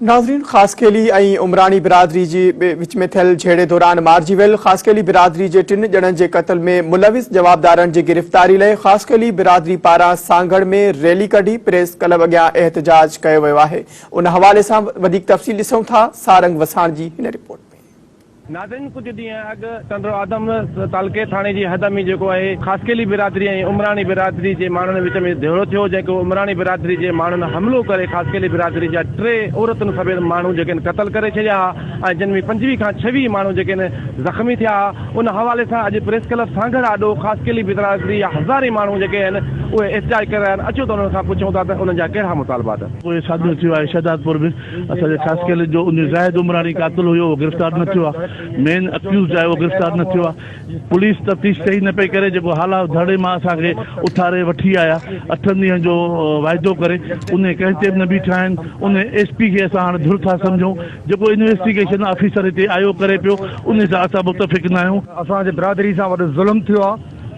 ناظرين خاصخيلي ۽ عمراڻي برادري جي وچ ۾ ٿيل جهيڙي دوران مارجي ويل خاصخيلي برادري جي ٽن ڄڻن جي قتل ۾ ملوث جوابدارن جي گرفتاري لئي خاصخيلي برادري پاران سانگهڙ ۾ ريلي ڪڍي پريس ڪلب اڳيان احتجاج ڪيو ويو آهي ان حوالي سان وڌيڪ تفصيل ڏسون ٿا سارنگ وساڻ جي هن رپورٽ ۾ ناظرين ڪجهه ڏينهن اڳ ٽنڊو آدم تعلقي ٿاڻي جي حد ۾ جيڪو آهي خاصخيلي برادري ۽ عمراڻي برادري جي ماڻهن وچ ۾ جهيڙو ٿيو جنهن ڪي عمراڻي برادري جي ماڻهن حملو ڪري خاصخيلي برادري جا ٽي عورتن سميت ماڻهو جيڪي آهن قتل ڪري ڇڏيا ها ۽ جن ۾ پنجويهه کان ڇويهه ماڻهو جيڪي آهن زخمي ٿيا ها ان حوالي سان اڄ پريس ڪلب سانگهڙ آڏو خاصخيلي برادري جا هزارين ماڻهو جيڪي آهن اهي احتجاج ڪري رهيا آهن اچو ته انهن کان پڇون ٿا ته انهن جا ڪهڙا مطالبات. پوء ساڳيو ٿيو آهي شهدادپور به. اسان جي خاص خيال جو ان زاهد عمراڻي قاتل هيو اهو گرفتار نه ٿيو آ مين اڪيوزڊ آهي اهو گرفتار نه ٿيو آ پوليس تفتيش صحيح نه پئي ڪري جيڪو هالا ڌرڙي مان اسان کي اٿاري وٺي آيا اٺن ڏينهن جو واعدو ڪري انهي ڪنهن تي به نه بيٺا آهن انهي ايس پي کي اسان هاڻي ڌر ٿا سمجهون جيڪو انويسٽيگيشن آفيسر هتي آيو ڪري پيو انهي سان اسان متفق نه آهيون. اسان جي برادري سان وڏو ظلم ٿيو آ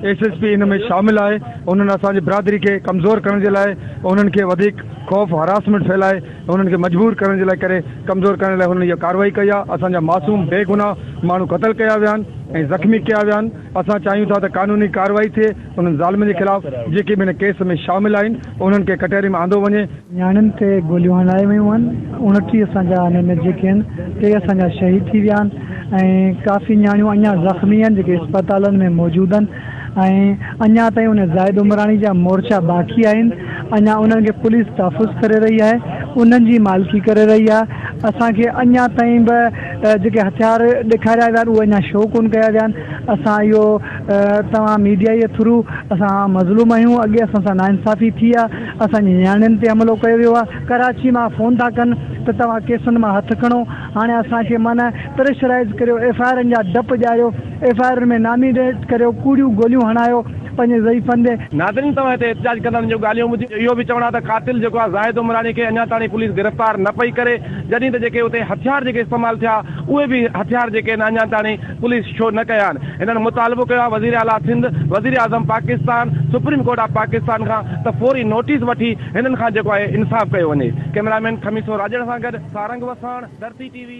ايس ايس پي ان ۾ شامل آهي انهن اسان جي برادري کي ڪمزور ڪرڻ جي لاء انهن کي وڌيڪ خوف هراسمينٽ ڦهلائي انهن کي مجبور ڪرڻ جي لاء ڪري ڪمزور ڪرڻ جي لاء هنن اها ڪارروائي ڪئي آهي، اسان جا معصوم بي گناهه ماڻهو قتل ڪيا ويا آهن ۽ زخمي ڪيا ويا آهن، اسان چاهيون ٿا ته قانوني ڪارروائي ٿئي، انهن ظالمن جي خلاف جيڪي به هن ڪيس ۾ شامل آهن انهن کي ڪٽهري ۾ آندو وڃي. نياڻين تي گوليون هنلايون ويون آهن، اڻٽيهه اسان جا انهن ۾ جيڪي آهن ٽي اسان جا شهيد ٿي ويا آهن ۽ ڪافي نياڻيون اڃا زخمي آهن جيڪي اسپتالن ۾ موجود آهن، ۽ اڃا تائين ان زاهد عمراڻي جا مورچا باقي آهن اڃا انهن کي پوليس تحفظ ڪري رهي آهي انهن جي مالڪي ڪري رهي آهي اسان کي اڃا تائين به جيڪي هٿيار ڏيکاريا ويا آهن اهي اڃا شو ڪونه ڪيا ويا آهن اسان اهو توهان ميڊيا جي ٿرو اسان مظلوم آهيون اڳي اسان سان ناانصافي ٿي آهي اسان جي نياڻين تي حملو ڪيو ويو آهي ڪراچي مان فون ٿا ڪن ته توهان ڪيسن مان هٿ کڻو هاڻي اسان کي معنيٰ پريشرائز ڪريو ايف آء آرن جا ڊپ ڄايو ايف آء آرن ۾ نامينيٽ ڪريو، ڪوڙيون گوليون هڻايو پنهنجي ضعيف ڪنڌي. ناظرين توهان هتي احتجاج ڪندڙن جون ڳالهيون ٻڌي اهو به چوڻ آ ته قاتل جيڪو آ زاهد عمراڻي کي اڃا تاڻي پوليس گرفتار نه پئي ڪري جڏهن ته جيڪي اتي هٿيار جيڪي استعمال ٿيا اهي به هٿيار جيڪي آهن اڃا تاڻي پوليس شو نه ڪيا آهن هنن مطالبو ڪيو آ وزير اعليٰ سنڌ وزير اعظم Pakistan supreme court of Pakistan کان ته فوري نوٽيس وٺي هنن کان جيڪو آهي انصاف ڪيو وڃي ڪئميرا مين خميسو راڄڙ سان گڏ سارنگ وساڻ، ڌرتي ٽي وي.